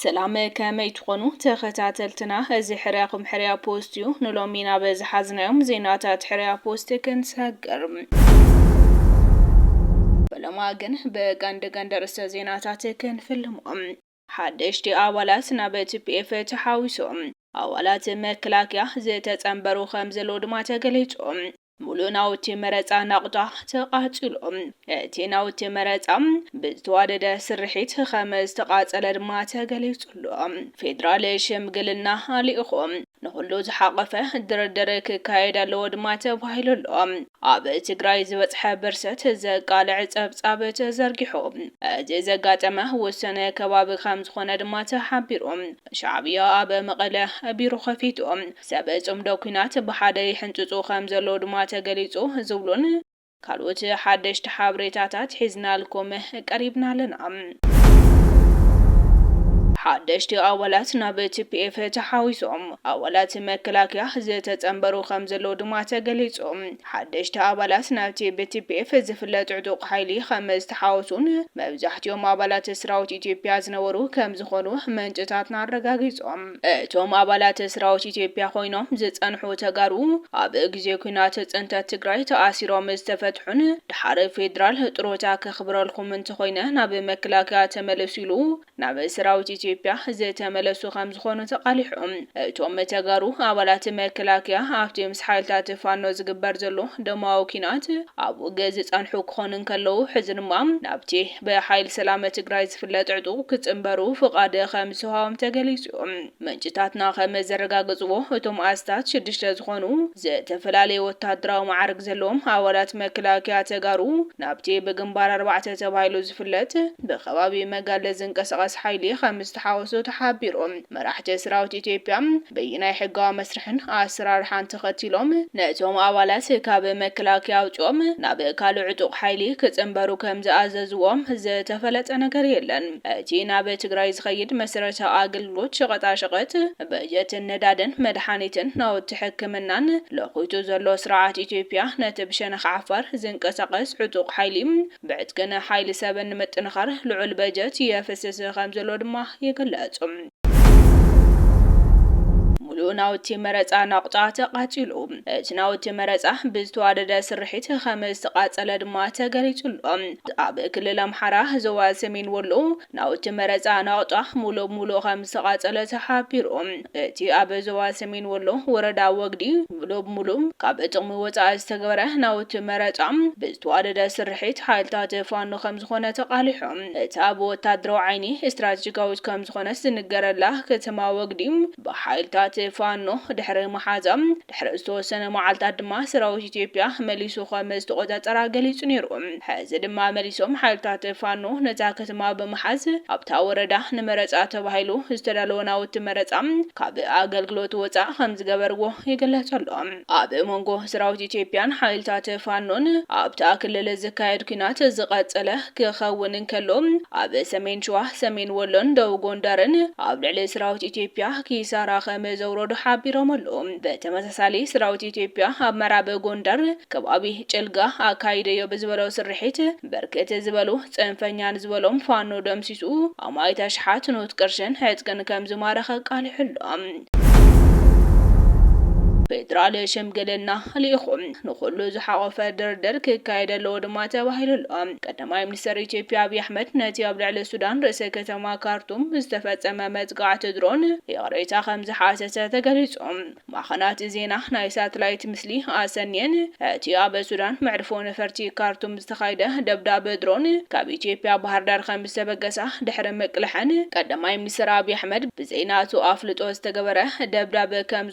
ሰላም ከመይ ትኾኑ ተኸታተልትና፣ እዚ ሕርያኹም ሕርያ ፖስት እዩ። ንሎሚ ናብ ዝሓዝናዮም ዜናታት ሕርያ ፖስት ክንሰግር በሎማ ግን ብቀንዲ ቀንዲ ርእሰ ዜናታት ክንፍልሞም ሓደሽቲ ኣባላት ናብ ቲፒኤፍ ተሓዊሶም ኣባላት መከላከያ ዝተፀምበሩ ከምዘለዉ ድማ ተገሊፁ። ሙሉእ ናውቲ መረፃ ናቑጣ ተቓፂሉ። እቲ ናውቲ መረፃ ብዝተዋደደ ስርሒት ከምዝተቓፀለ ድማ ተገሊፁ ኣሎ። ፌዴራል ሽምግልና ልኢኹም ንኹሉ ዝሓቐፈ ድርድር ክካየድ ኣለዎ ድማ ተባሂሉ ኣሎ። ኣብ ትግራይ ዝበፅሐ ብርሰት ዘቃልዕ ፀብፃብ ተዘርጊሑ። እዚ ዘጋጠመ ውሱን ከባቢ ከምዝኾነ ድማ ተሓቢሩ። ሻዕብያ ኣብ መቐለ ቢሮ ከፊቱ፣ ሰብ ፅምዶ ኲናት ብሓደ ይሕንፅፁ ከምዘለዉ ድማ ተገሊፁ ዝብሉን፣ ካልኦት ሓደሽቲ ሓብሬታታት ሒዝናልኩም ቀሪብና ኣለና። ሓደሽቲ ኣባላት ናብ TPF ተሓዊሶም ኣባላት መከላከያ ዝተጸንበሩ ከምዘለዉ ድማ ተገሊጹ። ሓደሽቲ ኣባላት ናብቲ ብTPF ዝፍለጥ ዕጡቕ ሓይሊ ከምዝተሓወሱን መብዛሕቲኦም ኣባላት ስራዊት ኢትዮጵያ ዝነበሩ ከምዝኾኑ ምንጭታትና ኣረጋጊጾም። እቶም ኣባላት ስራዊት ኢትዮጵያ ኮይኖም ዝፀንሑ ተጋሩ ኣብ ግዜ ኲናት ፅንተት ትግራይ ተኣሲሮም ዝተፈትሑን ደሓር ፌድራል ጥሮታ ከኽብረልኹም እንተኾይነ ናብ መከላከያ ተመለሱ ኢሉ ናብ ሰራዊት ኢትዮጵያ ዝተመለሱ ከምዝኾኑ ተቓሊሑ። እቶም ተጋሩ ኣባላት መከላከያ ኣብቲ ምስ ሓይልታት ፋኖ ዝግበር ዘሎ ደማዊ ኲናት ኣብ ውግእ ዝፀንሑ ክኾኑ እንከለዉ ሕዚ ድማ ናብቲ ብሓይል ሰላም ትግራይ ዝፍለጥ ዕጡቕ ክፅንበሩ ፍቓድ ከምዝተውሃቦም ተገሊፁ ዩ። ምንጭታትና ከምዘረጋገፅዎ እቶም ኣስታት ሽዱሽተ ዝኾኑ ዝተፈላለየ ወታደራዊ መዓርግ ዘለዎም ኣባላት መከላከያ ተጋሩ ናብቲ ብግንባር ኣርባዕተ ተባሂሉ ዝፍለጥ ብከባቢ መጋለ ዝንቀሳቐስ ሓይሊ ከምዝተሓወሱ ተሓቢሩ። መራሕቲ ሰራዊት ኢትዮጵያ በየናይ ሕጋዊ መስርሕን ኣሰራርሓን ተኸቲሎም ነቶም ኣባላት ካብ መከላከያ ኣውፂኦም ናብ ካልእ ዕጡቕ ሓይሊ ክፅምበሩ ከም ዝኣዘዝዎም ዝተፈለጠ ነገር የለን። እቲ ናብ ትግራይ ዝኸይድ መሰረታዊ ኣገልግሎት ሸቐጣሸቐጥ፣ በጀትን ነዳድን፣ መድሓኒትን ናውቲ ሕክምናን ለዂቱ ዘሎ ስርዓት ኢትዮጵያ ነቲ ብሸነኽ ዓፋር ዝንቀሳቐስ ዕጡቕ ሓይሊ ብዕጥቅን ሓይሊ ሰብን ንምጥንኻር ልዑል በጀት የፍስስ ከምዘሎ ድማ ይግለፅ። ሙሉእ ናውቲ መረፃ ናቑጣ ተቓፂሉ። እቲ ናውቲ መረፃ ብዝተዋደደ ስርሒት ከምዝተቓፀለ ድማ ተገሊፁ ኣሎ። ኣብ ክልል ኣምሓራ ዞባ ሰሜን ወሎ ናውቲ መረጻ ናቕጣ ሙሉእ ብሙሉእ ከምዝተቓጸለ ተሓቢሩ። እቲ ኣብ ዞባ ሰሜን ወሎ ወረዳ ወግዲ ሙሉእ ብሙሉእ ካብ ጥቕሚ ወጻኢ ዝተገበረ ናውቲ መረጻ ብዝተዋደደ ስርሒት ሓይልታት ፋኖ ከምዝኾነ ተቓሊሑ። እታ ብወታደራዊ ዓይኒ ስትራቴጂካዊት ከምዝኾነት ዝንገረላ ከተማ ወግዲ ብሓይልታት ፋኖ ድሕሪ ምሓዛ ድሕሪ ዝተወሰነ መዓልታት ድማ ሰራዊት ኢትዮጵያ መሊሱ ከም ዝተቖጻጸራ ገሊጹ ነይሩ። ሕዚ ድማ መሊሶም ሓይልታት ፋኖ ነታ ከተማ ብምሓዝ ኣብታ ወረዳ ንመረጻ ተባሂሉ ዝተዳለወ ናውቲ መረጻ ካብ ኣገልግሎት ወጻእ ከም ዝገበርዎ ይግለጽ ኣሎ። ኣብ መንጎ ሰራዊት ኢትዮጵያን ሓይልታት ፋኖን ኣብታ ክልል ዝካየድ ኲናት ዝቐጸለ ክኸውን እንከሎ፣ ኣብ ሰሜን ሸዋ፣ ሰሜን ወሎን ደቡብ ጎንደርን ኣብ ልዕሊ ሰራዊት ኢትዮጵያ ኪሳራ ከም ከምዘውረዱ ሓቢሮም ኣለው። ብተመሳሳሊ ስራዊት ኢትዮጵያ ኣብ መራብ ጎንደር ከባቢ ጭልጋ ኣካይደዮ ብዝበሎ ስርሒት ብርክት ዝበሉ ፅንፈኛን ዝበሎም ፋኖ ደምሲሱ ኣማኢት ኣሽሓት ኖት ቅርሽን ዕጥቅን ከምዝማረኸ ኣቃሊሑ ኣሎ። ፌዴራል ሽምግልና ልኢኹ ንኹሉ ዝሓቖፈ ድርድር ክካየድ ኣለዎ ድማ ተባሂሉ ኣሎ። ቀዳማይ ሚኒስተር ኢትዮጵያ ኣብይ ኣሕመድ ነቲ ኣብ ልዕሊ ሱዳን ርእሰ ከተማ ካርቱም ዝተፈጸመ መጥቃዕቲ ድሮን ይቕሬታ ከምዝሓተተ ተገሊጹ። ማዕኸናት ዜና ናይ ሳትላይት ምስሊ ኣሰንየን እቲ ኣብ ሱዳን መዕርፎ ነፈርቲ ካርቱም ዝተኻይደ ደብዳብ ድሮን ካብ ኢትዮጵያ ባህርዳር ከምዝተበገሳ ድሕሪ ምቅልሐን ቀዳማይ ሚኒስተር ኣብይ ኣሕመድ ብዘይ ናቱ ኣፍልጦ ዝተገበረ ደብዳብ ከም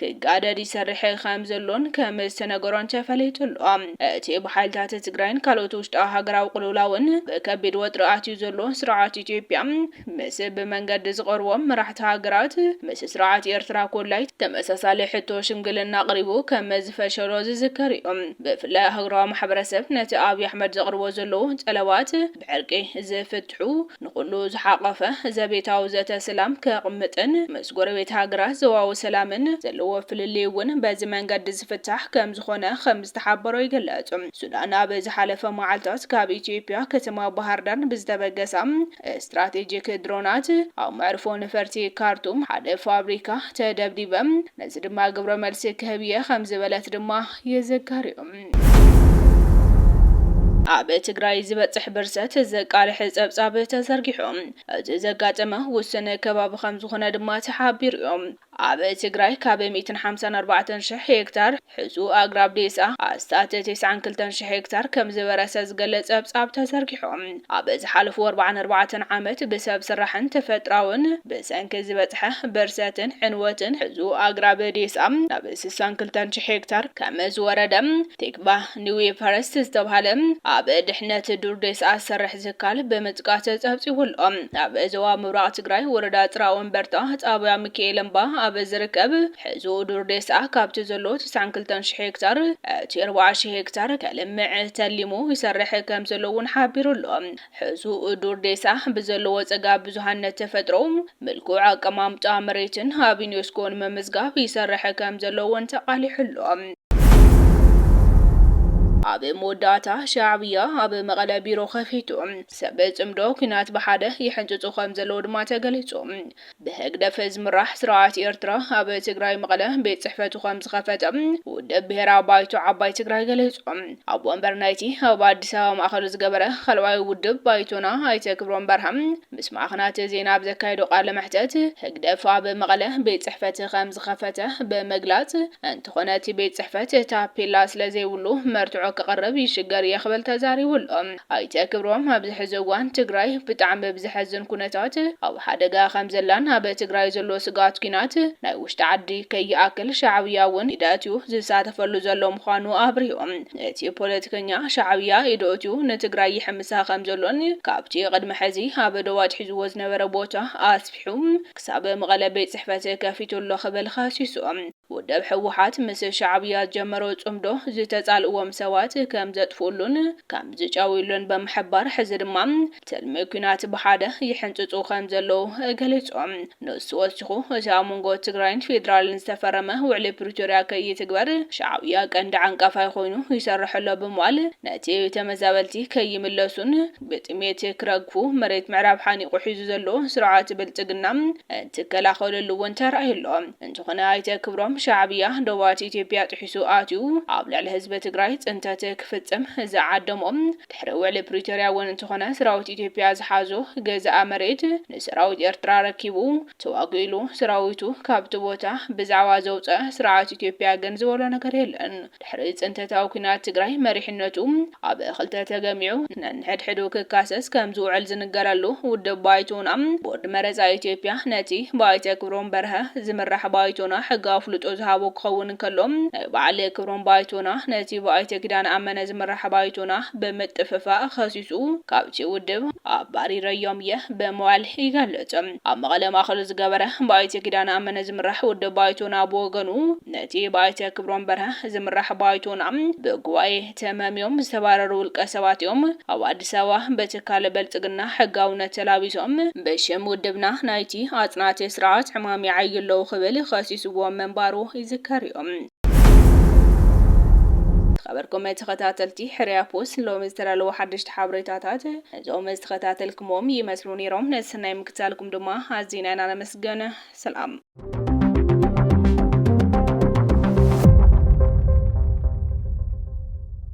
ክጋደድ ይሰርሕ ከም ዘሎን ከም ዝተነገሮን ተፈሊጡ ኣሎ። እቲ ብሓይልታት ትግራይን ካልኦት ውሽጣዊ ሃገራዊ ቅልውላውን ብከቢድ ወጥሪ ኣትዩ ዘሎ ስርዓት ኢትዮጵያ ምስ ብመንገዲ ዝቐርቦም መራሕቲ ሃገራት ምስ ስርዓት ኤርትራ ኮላይ ተመሳሳሊ ሕቶ ሽምግልና ኣቕሪቡ ከም ዝፈሸሎ ዝዝከር እዩ። ብፍላይ ኣህጉራዊ ማሕበረሰብ ነቲ ኣብይ ኣሕመድ ዘቕርቦ ዘሎዉ ጠለባት ብዕርቂ ዝፍትሑ፣ ንኹሉ ዝሓቖፈ ዘቤታዊ ዘተ ሰላም ከቕምጥን ምስ ጎረቤት ሃገራት ዞባዊ ሰላምን ዘለዎ ፍልልይ እውን በዚ መንገዲ ዝፍታሕ ከምዝኾነ ከምዝተሓበሮ ይግለፅ። ሱዳን ኣብ ዝሓለፈ መዓልታት ካብ ኢትዮጵያ ከተማ ባህርዳር ብዝተበገሳ ስትራቴጂክ ድሮናት ኣብ መዕርፎ ነፈርቲ ካርቱም ሓደ ፋብሪካ ተደብዲበ፣ ነዚ ድማ ግብረ መልሲ ክህብ እየ ከምዝበለት ድማ ይዝከር እዩ። ኣብ ትግራይ ዝበፅሕ ብርሰት ዘቃልሕ ፀብፃብ ተዘርጊሑ እቲ ዘጋጠመ ውስን ከባቢ ከምዝኾነ ድማ ተሓቢሩ እዩ። ኣብ ትግራይ ካብ ሚእትን ሓምሳን ኣርባዕተን ሽሕ ሄክታር ሕሱ ኣግራብ ዴሳ ኣስታት ቴስዓን ክልተን ሽሕ ሄክታር ከምዝበረሰ ዝገልፅ ፀብፃብ ተዘርጊሑ። ኣብ ዝሓለፉ ኣርብዓን ኣርባዕተን ዓመት ብሰብ ስራሕን ተፈጥራውን ብሰንኪ ዝበፅሐ ብርሰትን ዕንወትን ሕዙ ኣግራብ ዴስኣ ናብ ስሳን ክልተን ሽሕ ሄክታር ከመዝወረደ ቲክቫህ ኒውይ ፈረስት ዝተብሃለ ኣብ ድሕነት ዱር ዴስኣ ዝሰርሕ ዝካል ብምጥቃስ ፀብፂቡ ኣሎ። ኣብ ዞባ ምብራቕ ትግራይ ወረዳ ፅራወንበርታ ጣብያ ሚኪኤል እምባ ኣብ ዝርከብ ሕዚ ኡዱር ዴስኣ ካብቲ ዘሎ ትስዓን ክልተን ሽሕ ሄክታር እቲ ኣርባዓ ሽሕ ሄክታር ከልምዕ ተሊሙ ይሰርሕ ከምዘሎ እውን ሓቢሩ ኣሎ። ሕዚ ኡዱር ዴስኣ ብዘለዎ ፀጋ ብዙሃነት ተፈጥሮ፣ ምልኩዕ ኣቀማምጣ መሬትን ኣብ ዩኔስኮ ንምምዝጋብ ይሰርሕ ከምዘሎ እውን ተቓሊሑ ኣሎ። ኣብ መወዳእታ ሻዕብያ ኣብ መቐለ ቢሮ ከፊቱ ሰብ ፅምዶ ኲናት ብሓደ ይሕንፅፁ ከምዘለዉ ድማ ተገሊፁ። ብህግደፍ ዝምራሕ ስርዓት ኤርትራ ኣብ ትግራይ መቐለ ቤት ጽሕፈቱ ከም ዝኸፈተ ውድብ ብሄራዊ ባይቶ ዓባይ ትግራይ ገሊጹ። ኣቦ ወንበር ናይቲ ኣብ ኣዲስ ኣበባ ማእኸሉ ዝገበረ ኻልኣዋይ ውድብ ባይቶና ኣይተ ክብሮም በርሀ ምስ ማዕኸናት ዜና ኣብ ዘካየዶ ቃለ መሕተት ህግደፍ ኣብ መቐለ ቤት ጽሕፈት ከም ዝኸፈተ ብምግላጽ እንተኾነ እቲ ቤት ፅሕፈት ታፔላ ስለዘይብሉ መርትዖ ከቕርብ ይሽገር እየ ክብል ተዛሪቡ ኣሎ። ኣይተ ክብሮም ኣብዚ ሕዚ እዋን ትግራይ ብጣዕሚ ብዘሕዝን ኩነታት ኣብ ሓደጋ ከምዘላን ኣብ ትግራይ ዘሎ ስግኣት ኲናት ናይ ውሽጢ ዓዲ ከይኣክል ሻዕብያ እውን ኢድ ኣእትዩ ዝሳተፈሉ ዘሎ ምዃኑ ኣብሪሆም እቲ ፖለቲከኛ ሻዕብያ ኢዱ ኣእትዩ ንትግራይ ይሕምሳ ከምዘሎን ካብቲ ቅድሚ ሕዚ ኣብ ዶብ ኣትሒዝዎ ዝነበረ ቦታ ኣስፊሑ ክሳብ መቐለ ቤት ፅሕፈት ከፊቱ ኣሎ ክብል ኸሲሱ። ውድብ ህወሓት ምስ ሻዕብያ ዝጀመሮ ፅምዶ ዝተፃልእዎም ሰባት ከም ዘጥፍኡሉን ከም ዝጨውዩሉን ብምሕባር ሕዚ ድማ ትልሚ ኲናት ብሓደ ይሕንፅፁ ከም ዘለዉ ገሊፁ። ንሱ ወሲኹ እቲ ኣብ መንጎ ትግራይን ፌዴራልን ዝተፈረመ ውዕሊ ፕሪቶርያ ከይትግበር ሻዕብያ ቀንዲ ዓንቃፋይ ኾይኑ ይሰርሕ ኣሎ ብምባል ነቲ ተመዛበልቲ ከይምለሱን ብጥሜት ክረግፉ መሬት ምዕራብ ሓኒቑ ሒዙ ዘሎ ስርዓት ብልፅግና እንትከላኸለሉ እውን ተራእዩ ኣሎ። እንተኾነ ኣይተ ክብሮም ሻዕብያ ዶባት ኢትዮጵያ ጥሒሱ ኣትዩ ኣብ ልዕሊ ህዝቢ ትግራይ ፅንተት ክፍፅም ዝዓደሞ ድሕሪ ውዕሊ ፕሪቶርያ እውን እንተኾነ ስራዊት ኢትዮጵያ ዝሓዞ ገዛኢ መሬት ንሰራዊት ኤርትራ ኣረኪቡ ተዋጊኡ ኢሉ ሰራዊቱ ካብቲ ቦታ ብዛዕባ ዘውፀ ስርዓት ኢትዮጵያ ግን ዝበሎ ነገር የለን። ድሕሪ ፅንተታዊ ኲናት ትግራይ መሪሕነቱ ኣብ ክልተ ተገሚዑ ነንሕድሕዱ ክካሰስ ከምዝውዕል ዝንገረሉ ውድብ ባይቶና ቦርድ መረፃ ኢትዮጵያ ነቲ ብኣይተ ክብሮም በርሀ ዝምራሕ ባይቶና ሕጋዊ ኣፍልጦ ዝሃቦ ክኸውን እንከሎ ናይ በዓል ክብሮም ባይቶና ነቲ ብኣይተ ኪዳነ ኣመነ ዝምራሕ ባይቶና ብምጥፍፋእ ኸሲሱ ካብቲ ውድብ ኣባሪረዮም እየ ብምባል ይገልፅ። ኣብ መቐለ ማእኸሉ ዝገበረ ብኣይተ ኪዳነ ኣመነ ዝምራሕ ውድብ ባይቶና ብወገኑ ነቲ ብኣይተ ክብሮም በርሀ ዝምራሕ ባይቶና ብጉባኤ ተመምዮም ዝተባረሩ ውልቀ ሰባት እዮም ኣብ ኣዲስ ኣበባ ብትካል ብልፅግና ሕጋውነት ተላቢሶም ብሽም ውድብና ናይቲ ኣፅናቲ ስርዓት ዕማም ይዓዩ ኣለዉ ክብል ኸሲስዎም ምንባሩ ይዝከር እዩ። ዝኸበርኩም ተኸታተልቲ ሕርያ ፖስት ሎሚ ዝተዳለዉ ሓደሽቲ ሓበሬታታት እዞም ዝተኸታተልክሞም ይመስሉ ነይሮም። ንሰናይ ምክትታልኩም ድማ ኣዚና ኢና ነመስግን። ሰላም